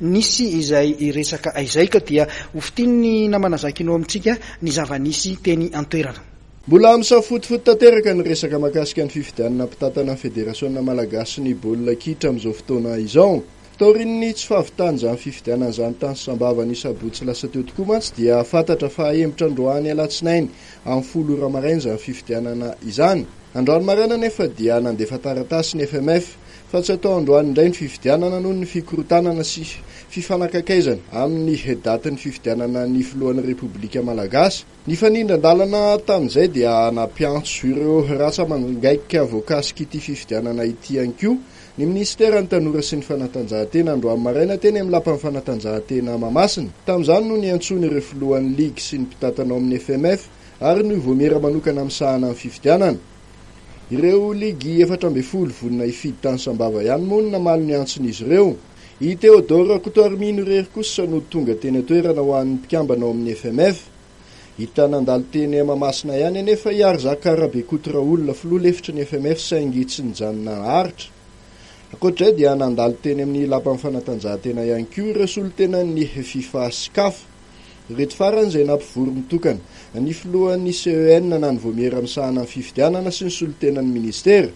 Nisy izay hiresaka aizay ka dia hofintinin'ny namana Zakino amintsika ny zava-nisy teny an-toerana. Mbola misafotofoto tanteraka ny resaka mahakasika ny fifidianana mpitantana ny Federasiona malagasin'ny baolina kitra amin'izao fotoana izao. Taorian'ny tsy fahavitan'izany fifidianana izany tany Sambava ny sabotsy lasa teo tokoa mantsy dia fantatra fa hahemotra androany alatsinainy amin'ny folo ora maraina izany fifidianana izany. Androany maraina anefa dia nandefa taratasy ny FMF Fa tsy atao androany indray ny fifidianana noho ny fikorontanana sy fifanakaiakaizana amin'ny datin'ny fifidianana ny filohan'ny Repoblika Malagasy. Nifanindran-dalana tamin'izay dia nampiantso ireo ratsa-mangaika voakasik'ity fifidianana ity ihany koa ny minisiteran'ny Tanora sy ny Fanatanjahantena androany maraina teny amin'ny lapan'ny fanatanjahantena Mahamasina. Tamin'izany no niantsoany ireo filohan'ny ligy sy ny mpitantana ao amin'ny FMF ary ny Ouvomira manokana misahana ny fifidianana. Ireo ligy efatra ambin'ny folo vonona hifidy tany Sambava ihany moa no namaly ny antson'izy ireo. I Théodore Rakotoarimino irery kosa no tonga teny an-toerana ho an'ny mpikambana ao amin'ny FMF. Hita nandalo teny Mahamasina ihany anefa i Arizaka Rabekoto Raolona filoha lefitry ny FMF saingy tsy nijanona naharitra. Ankoatr'izay dia nandalo teny amin'ny lapan'ny fanatanjahantena ihany koa ireo solontenan'ny Fifa sy Caf. Ireto farany izay nampivory mitokana ny filohan'ny CEN na ny Vaomiera misahana ny fifidianana sy ny solontenan'ny minisitera.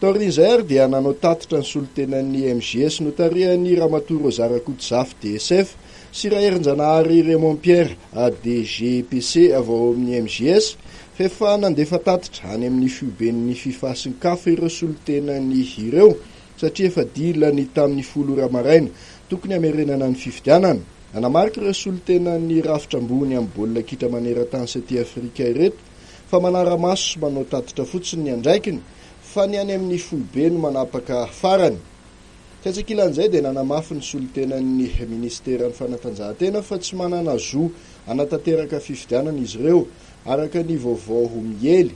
Taorian'izay ary dia nanao tatitra ny solontenan'ny MJS notarihan'ny Ramatoa Rosa Rakotozafy DSF sy Raherinjanahary Raymond Pierre ADGPC avy ao amin'ny MJS fa efa nandefa tatitra any amin'ny Fihoben'ny Fifasinkafa ireo solontenany ireo satria efa dila ny tamin'ny folo ora maraina tokony hamerenana ny fifidianana. Nanamarika ireo solontenan'ny rafitra ambony amin'ny baolina kitra maneran-tany sy aty Afrika ireto fa manara-maso sy manao tatitra fotsiny ny andraikiny fa ny any amin'ny foibe no manapaka farany. Tsy an-tsekilan'izay dia nanamafy ny solontenan'ny minisiteran'ny fanatanjahantena fa tsy manana zo hanatanteraka fifidianana izy ireo araka ny vaovao miely.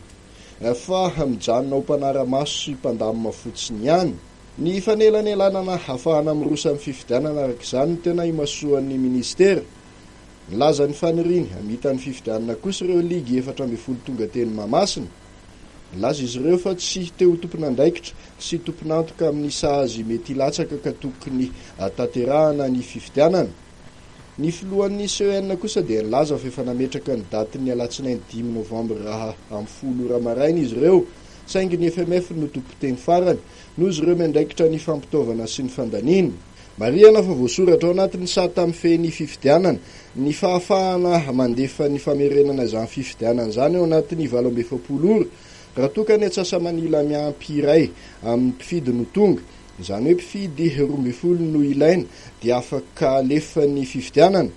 Fah, mijanona ho mpanara-maso sy mpandamina fotsiny ihany. Ny fanelanelanana hahafahana miroso amin'ny fifidianana araka izany no tena imasoan'ny minisitera. Nilaza ny faniriany hamita ny fifidianana kosa ireo ligy efatra ambin'ny folo tonga teny Mahamasina. Nilaza izy ireo fa tsy te ho tompon'andraikitra sy tompon'antoka amin'ny sazy mety hilatsaka ka tokony tanterahana ny fifidianana. Ny filohan'ny CEN kosa dia nilaza fa efa nametraka ny datin'ny alatsinainy dimy novambra raha amin'ny folo ora maraina izy ireo, saingy ny FMF no tompon-teny farany, noho izy ireo miandraikitra ny fampitaovana sy ny fandaniana. Marihana fa voasoratra ao anatin'ny sata mifehy ny fifidianana ny fahafahana mandefa ny famerenana izany fifidianana izany ao anatin'ny valo amby efapolo ora, raha toa ka ny antsasa-manila miampy iray amin'ny mpifidy no tonga, Izany hoe mpifidy roa ambin'ny folo no ilaina dia afaka alefa ny fifidianana?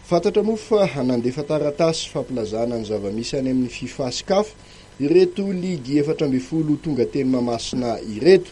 Fantatra moa fa nandefa taratasy fampilazana ny zava-misy any amin'ny Fifa sy Caf ireto ligy efatra ambin'ny folo tonga teny Mahamasina ireto.